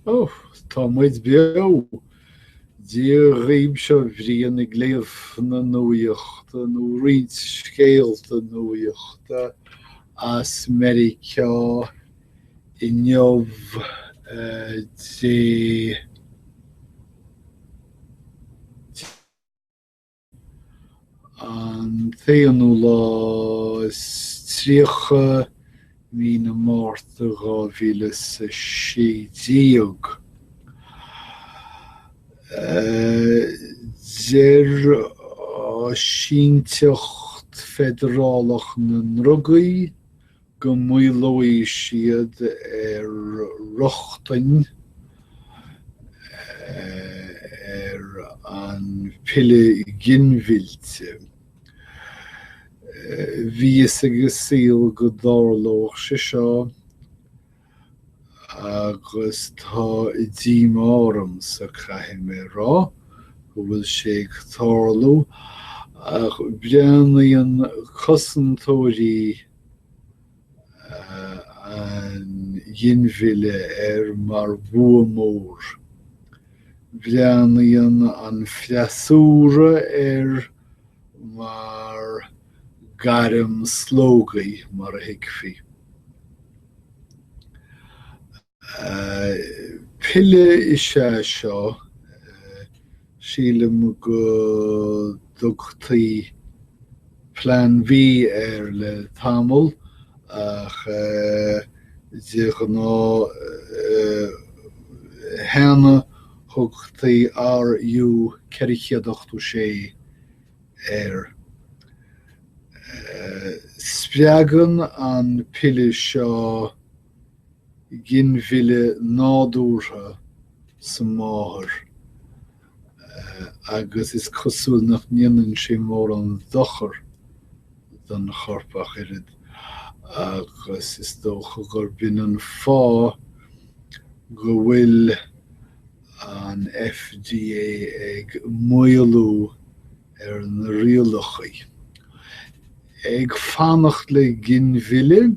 Ó, tá muid beo! Dia dhaoib seo Brian ag léamh na nuaíochta, nó roinnt scéalta nuaíochta as Meiriceá inniu, Dé An t-aonú lá is tríocha mí na Márta dhá mhíle is a sé déag. Deir Áisínteacht Feidearálach na nDrugaí go maolóidh siad ar rochtain ar an piolla ginmhillte. Bhí a fhios ag an saol go dtarlódh sé seo agus tá díomá ormsa, caithfidh mé a rá, go bhfuil sé ag tarlú ach breathnaíonn cosantóirí, an ghinmhilleadh air mar bua mór. Breathnaíonn an freasúra air mar gairm slógaidh, mar a thuigfí. Pille is ea seo. Sílim go dtugtaí Plean B air le tamall ach de ghnáth cheana thugtaí RU486 air. Spreagann an pille seo ginmhilleadh nádúrtha sa máthair agus is cosúil nach ndéanann sé mórán dochar don chorp ach oiread agus is dócha gurb in an fáth go bhfuil an FDA ag maolú ar na rialachaí ag fanacht le ginmhilleadh.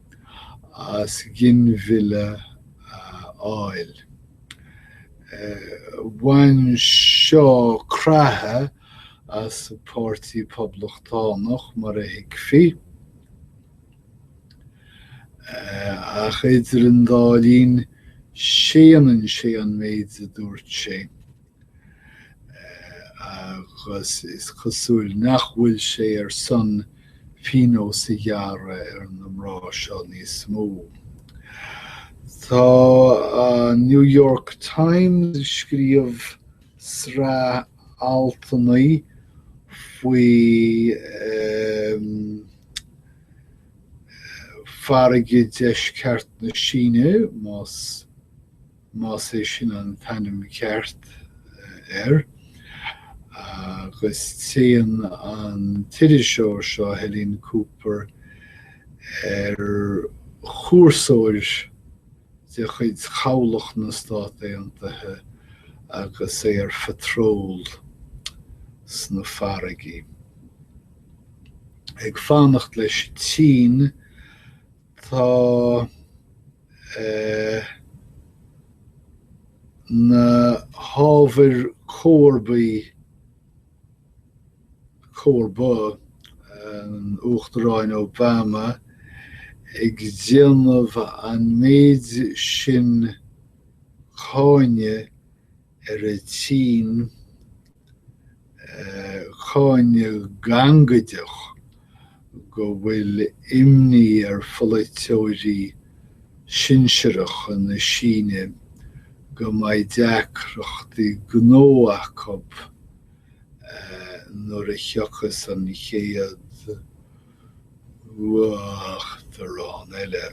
as ginmhilleadh a fháil. Bhain seo creathadh as an Páirtí Poblachtánach, mar a thuigfí, ach idir an dá linn séanann sé an méid a dúirt sé. agus is cosúil nach bhfuil sé ar son pionós a ghearradh ar na mná seo níos mó. Tá an New York Times ag scríobh sraith altanna faoi farraige deisceart na Síne, más más é sin an t-ainm ceart air, agus téann an t-iriseoir seo, Helene Cooper, ar chúrsóir de chuid Chabhlach na Stát Aontaithe agus é ar phatról sna farraigí, ag fanacht leis an tSín. Tá na hábhair comharbaí, comharba an Uachtaráin Obama, ag déanamh an méid sin cáineadh ar an tSín cáineadh gangaideach go bhfuil imní ar pholaiteoirí sinsearacha na Síne go mbeidh deacrachtaí gnó acu nuair a thiocfas an chéad Uachtarán eile.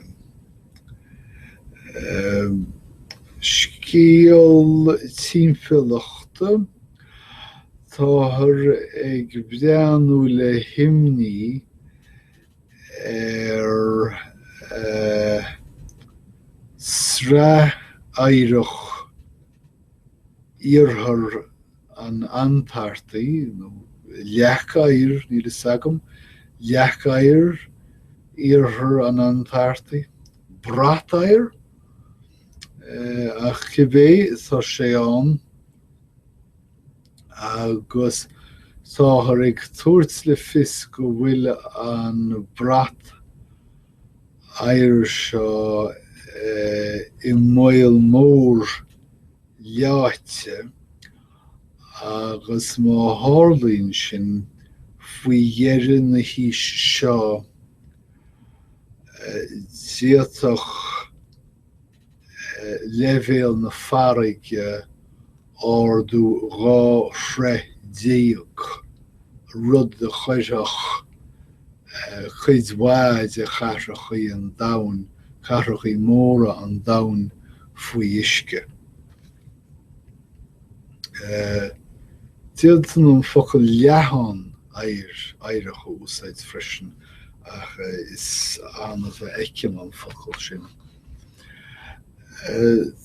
Scéal timpeallachta, Táthar ag breathnú le himní ar shraith oighreach iarthar an Antartaigh, nó leac oighir, níl fhios agam, leac oighir, iarthar an Antartaigh, brat oighir? Eh, ach cibé, tá sé ann agus táthar ag tabhairt le fios go bhfuil an brat oighir seo eh, i mbaol mór leáite agus má tharlaíonn sin faoi dheireadh na haoise seo d'fhéadfadh leibhéal na farraige ardú dhá throigh déag. rud a chuirfeadh cuid mhaith de chathrachaí an domhain, cathrachaí móra an domhain faoi uisce. D'fhéadfainn an focal leathán oighir, oighreach a úsáid freisin ach is annamh a fheicim an focal sin.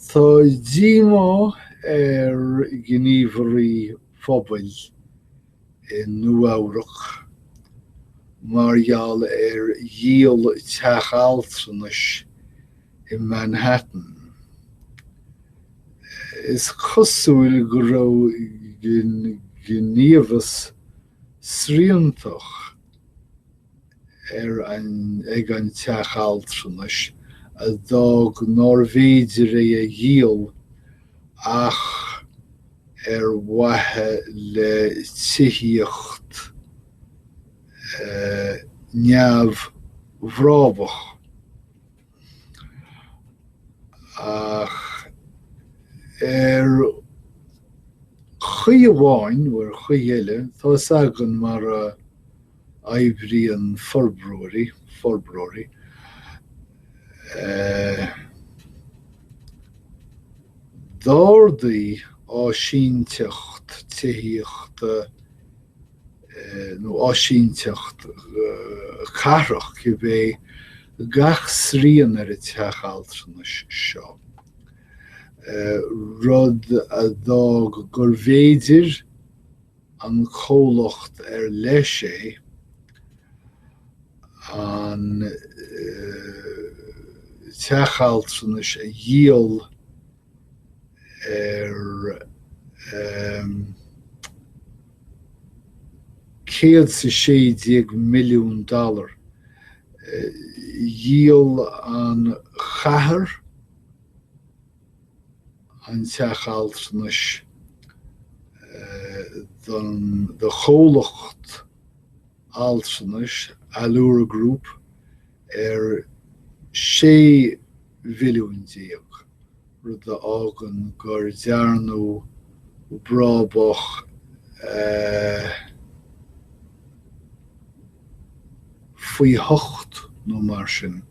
Tá díomá ar ghníomhairí phobail i Nua-Eabhrac mar gheall ar dhíol teach altranais i Manhattan. Is cosúil go raibh gníomhas sriantach ar ag an teach altranais a d'fhág nár bhféidir é a dhíol ach. ar mhaithe le tithíocht neamhbhrabúsach, ach ar chaoi amháin nó ar chaoi eile tá a fhios againn mar a. oibríonn forbróirí, forbróirí d'ardaigh áisíneacht tithíochta nó áisíneacht cathrach cibé gach srian ar an teach altranais seo, rud a d'fhág gurbh fhéidir, don chomhlacht ar leis é, an teach altranais a dhíol ar céad is a sé déag milliún dollar, dhíol an chathair an teach altranais do chomhlacht altranais, Allure Group, ar sé mhilliún déag, rud a fhágann gur dearnadh brabach faoi hocht nó mar sin.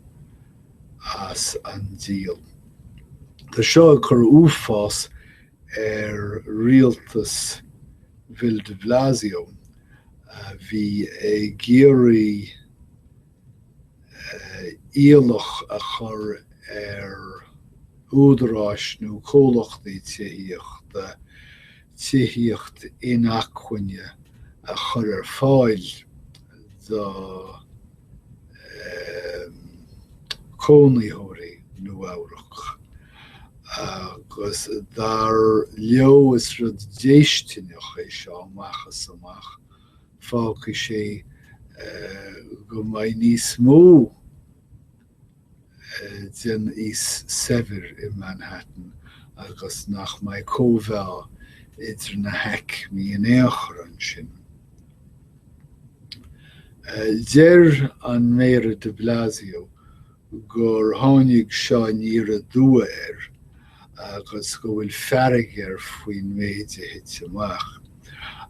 as an díol. Tá seo ag cur uafáis ar rialtas Bhill de Bhlasio a bhí ag iarraidh iallach a chur ar údaráis nó comhlachtaí tithíochta tithíocht inacmhainne a chur ar fáil do chónaitheoirí Nua-Eabhrac agus dar leo is rud déistineach é seo amach is amach, fágfaidh sé go mbeidh níos mó den aos saibhir i Manhattan agus nach mbeidh cóimheá idir na haicmí in aon chor ansin. Deir an Méara de Blasio gur tháinig seo aniar aduaidh air agus go bhfuil fearg air faoin méid a thit amach.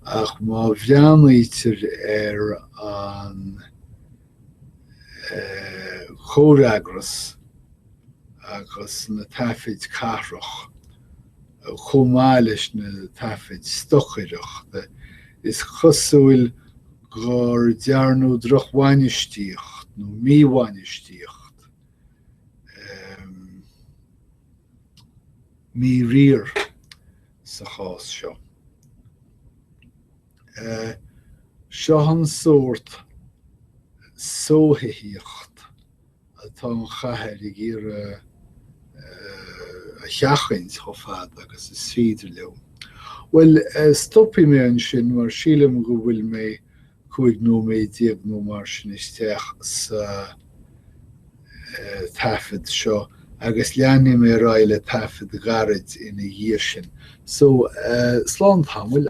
Ach má bhreathnaítear ar an. chomhfhreagras agus na taifid cathrach, chomh maith leis na taifid stocaireachta, is cosúil gur dearnadh drochbhainistíocht nó míbhainistíocht, míriar sa chás seo. Seo an sórt sothuigtheacht atá an chathair ag iarraidh a sheachaint chomh fada agus is féidir leo. Bhuel, stopfaidh mé ansin mar sílim go bhfuil mé cúig nóiméad déag nó mar sin isteach sa taifead seo agus leanfaidh mé ar aghaidh le taifead gairid ina dhiaidh sin. So, slán tamaill.